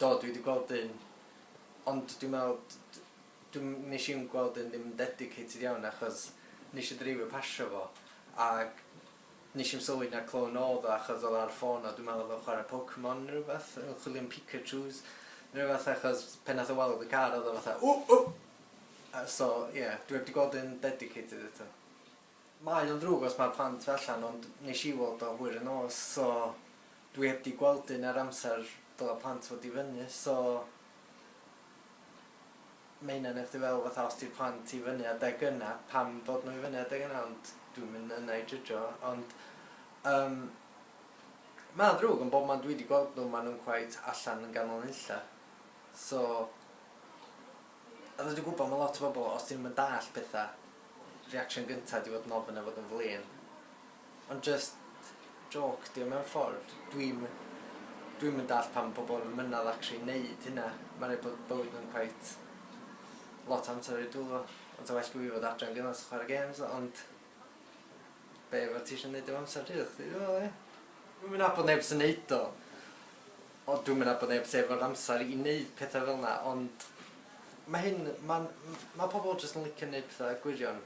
Do dwi 'di gweld un ond dwi'n me'wl d- d- dwi'm nesh i'm gweld un ddim yn dedicated iawn achos nesh i ddreifio pasio fo ag nesh i'm sylwi na clone odd o achos odd o ar ffôn o dwi'n me'wl odd o'n chware Pokemon ne' rwbeth yn chwilio am Pikachus ne' rwbeth achos pan nath o weld y car odd o fatha ww ww a so ie dwi 'eb 'di gweld un dedicated eto. Mae o'n ddrwg os mae'r plant tu allan ond nes i weld o hwyr y nos so dwi heb di gweld un er amser dyle plant fod i fyny so mae hynna'n neud chdi feddwl fatha os di'r plant i fyny adeg yna pam bod nhw i fyny adeg yna ond dwi'm yn yna i jydjo ond yym mae o'n ddrwg ond bob man dwi di gweld nhw ma' nhw'n cweit allan yn ganol nunlle so Oeddet ti'n gwybod, mae lot o bobl, os 'dyn nhw'm yn dallt pethau, reaction gynta 'di fod yn ofyn a fod yn flin. Ond jyst jôc 'di o mewn ffordd. Dwi'm dwi'm yn dallt pam ma' pobl yn mynadd actually neud hynna. Mae'n rhaid bod bywyd nhw'n cweit lot o amser ar eu dwylo nhw. Ond 'sa well 'da fi fod adre'n gyfan jyst chwarae gêms, ond be' fo' ti isio neud efo amser ti, chdi 'di meddwl ia? Dwi'm yn nabod neb sy'n neud o. O dwi'm yn nabod neb sy efo'r amser i neud petha fel 'na ond ma' hyn ma'n m- ma' pobol jyst yn licio neud petha gwirion.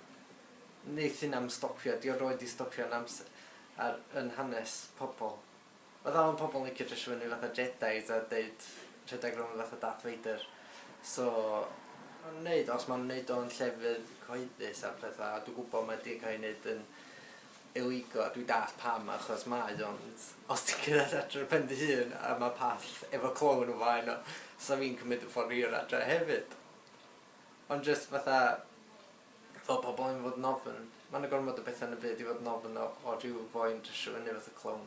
Neith hynna'm stopio 'di o roid 'di stopio yn ams- ar yn hanes pobol. Ma' dal yn pobol yn licio dresio fyny fatha Jedis a deud rhedag rownd fatha Darth Vader so ma' nw'n neud o os ma' nw'n neud o yn llefydd cyhoeddus a petha a dwi gwbo mae 'di ca'l 'i neud yn Eligo, dwi dallt pam achos mae ond os ti'n cerdded adre ar ben dy hun a ma path efo clown o flaen o sa fi'n cymyd y ffor hir adre hefyd ond jyst fatha fel pobol yn fod yn ofn ma na gormod o betha yn y byd i fod yn ofn o o ryw foi yn dresho fyny fatha clown.